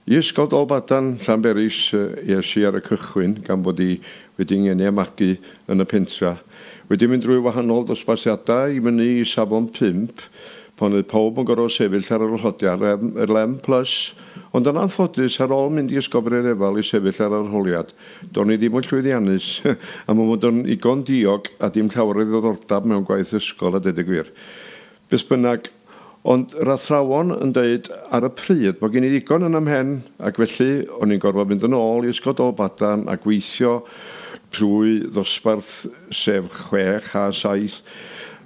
I Ysgol Dolbadarn, Llanberis, es i ar y cychwyn gan fod i wedi 'ngeni a magu yn y pentra'. Wedi mynd drwy wahanol ddosbarthiadau i fyny i safon pump, pan oedd pawb yn gorfod sefyll ar yr arholiad yr LM plus, ond yn anffodus, ar ôl mynd i Ysgol Brerefal i sefyll ar yr arholiad, do'n i ddim yn llwyddiannus, am fy mod yn igon diog a dim llawer o ddiddordab mewn gwaith ysgol a deud y gwir. Beth bynnag, ond yr athrawon yn deud ar y pryd bod gen i ddigon yn 'y mhen ac felly o'n i'n gorfod mynd yn ôl i Ysgol Dolbadarn a gweithio trwy ddosbarth sef chwech a saith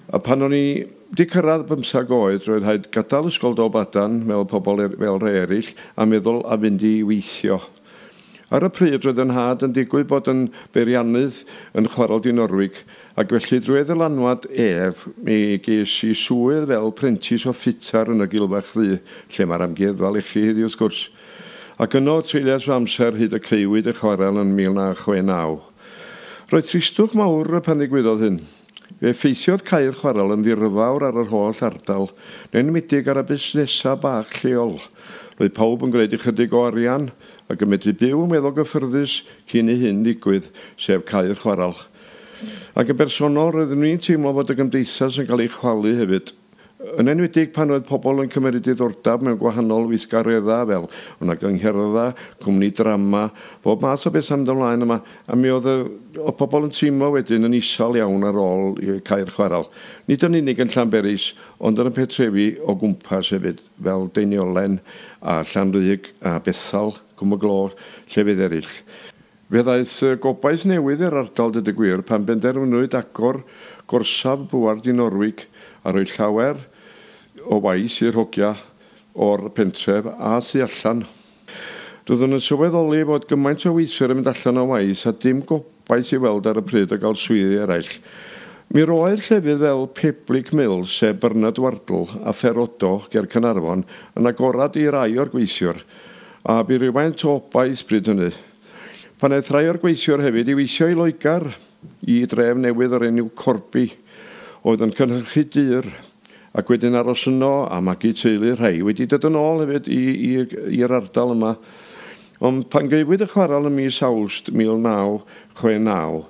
a pan o'n i 'di cyrraedd bymthag oed roedd rhaid gadael Ysgol Dolbadarn fel pobl er- fel rhai eraill a meddwl a fynd i weithio. Ar y pryd roedd fy nhad yn digwydd bod yn beiriannydd yn Chwarel Dinorwig ac felly drwy ei ddylanwad ef mi ges i swydd fel prentis o ffitar yn y Gilfach Ddu, lle mae'r amgueddfa lechi heddiw wrth gwrs. Ac yno treuliais fy amser hyd y caewyd y chwarel yn 1969. Roedd tristwch mawr pan ddigwyddodd hyn. Fe effeithiodd cau'r chwarel yn ddiryfawr ar yr holl ardal, yn enwedig ar y busnesau bach lleol. Roedd pawb yn gwneud ychydig o arian ac yn medru byw yn weddol gyffyrddus cyn i hyn ddigwydd, sef cau'r chwarel. Ac yn bersonol, roeddwn i'n teimlo fod y gymdeithas yn cael ei chwalu hefyd. yn enwedig pan oedd pobl yn cymeryd diddordab mewn gwahanol weithgareddau fel wna gyngherddau, cwmni drama, bob math o bethau mynd ymlaen yma, a mi oedd y, oedd pobl yn teimlo wedyn yn isal iawn ar ôl cau'r chwarel. Nid yn unig yn Llanberis, ond yn y pentrefi o gwmpas hefyd, fel Deiniolen a Llanrug a Bethal, Cwm y Glo, llefydd eraill. Fe ddaeth gobaith newydd i'r ardal deuda gwir pan benderfynwyd agor gorsaf Buarth i Norwig a rhoi llawer o waith i'r hogia o'r pentref a thu allan. Doeddwn yn sylweddoli fod gymaint o weithwyr yn mynd allan o waith a dim gobaith i weld ar y pryd o gael swyddi eraill. Mi roedd llefydd fel Peblig Mill, sef Bernard Wardle a Ferodo ger Caernarfon, yn agored i rai o'r gweithiwr. A bu rywfaint o obaith bryd hynny. Pan aeth rhai o'r gweithiwr hefyd i weithio i Loegr, i dref newydd o'r enw Corby, oedd yn cynhyrchu dur, ac wedyn aros yno a magu teulu, rhai wedi dod yn ôl hefyd i, i, i'r ardal yma. Ond pan gaewyd y chwarel ym mis Awst 1969,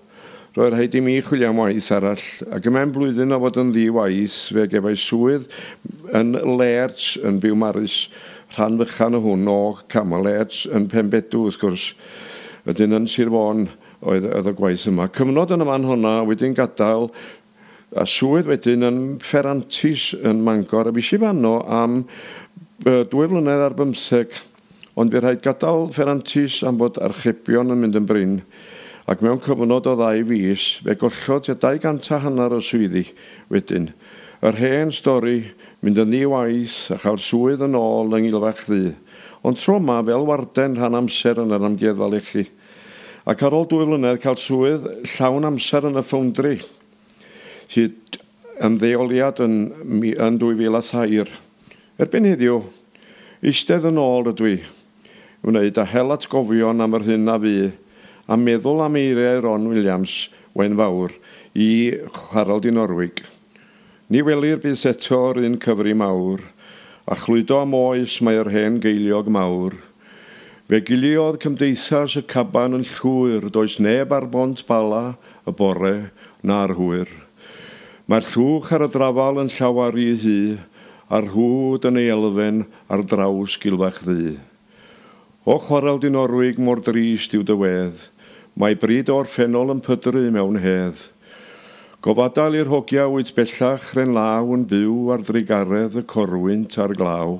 Roedd rhaid i mi chwilio am waith arall, ac y mewn blwyddyn o fod yn ddi-waith, fe gefais swydd yn Lleerts, yn Biwmaris, rhan fychan o hwn, o, cama, Lleerts, yn Penbedw, wrth gwrs. Wedyn yn Sir Fôn oedd oedd y gwaith yma. Cyfnod yn y man honna, a wedyn gadael, a swydd wedyn yn Fferantis yn Mangor, a fues i fanno am yy dwy flynedd ar bymtheg. Ond bu rhaid gadael Ferrantes am fod archebion yn mynd yn brin, ac mewn cyfnod o ddau fis, fe gollodd tua 200 a hanner o swyddi wedyn. Yr hen stori, mynd yn ddi-waith a chael swydd yn ôl yng Ngilfach Ddu, ond tro yma fel warden rhan amser yn yr Amgueddfa Lechi. Ac ar ôl dwy flynedd cael swydd llawn amser yn y Foundry, hyd ymddeoliad yn yn 2003. Erbyn heddiw, eistedd yn ôl rydw i, wneud a hel atgofion am yr hyn a fu, a meddwl am eiriau Ron Williams, Wain Fawr, i Harald i Norwig. Ni welir byth eto'r un cyfri mawr, a chludo am oes mae yr hen geiliog mawr. Fe giliodd Cymdeithas y Caban yn llwyr, does neb ar Bont Bala y bore, na'r hwyr. Mae'r llwch ar y drafal yn llawer rhy ddu, a'r rhwd yn ei elfen ar draws gilfach ddu. O chwarel Dinorwig mor drist yw dy wedd, mae bryd o'r ffenol yn pydru mewn hedd. Gofadael i'r hogia wyt bellach 'rhen law yn byw ar drugaredd y corwynt a'r glaw.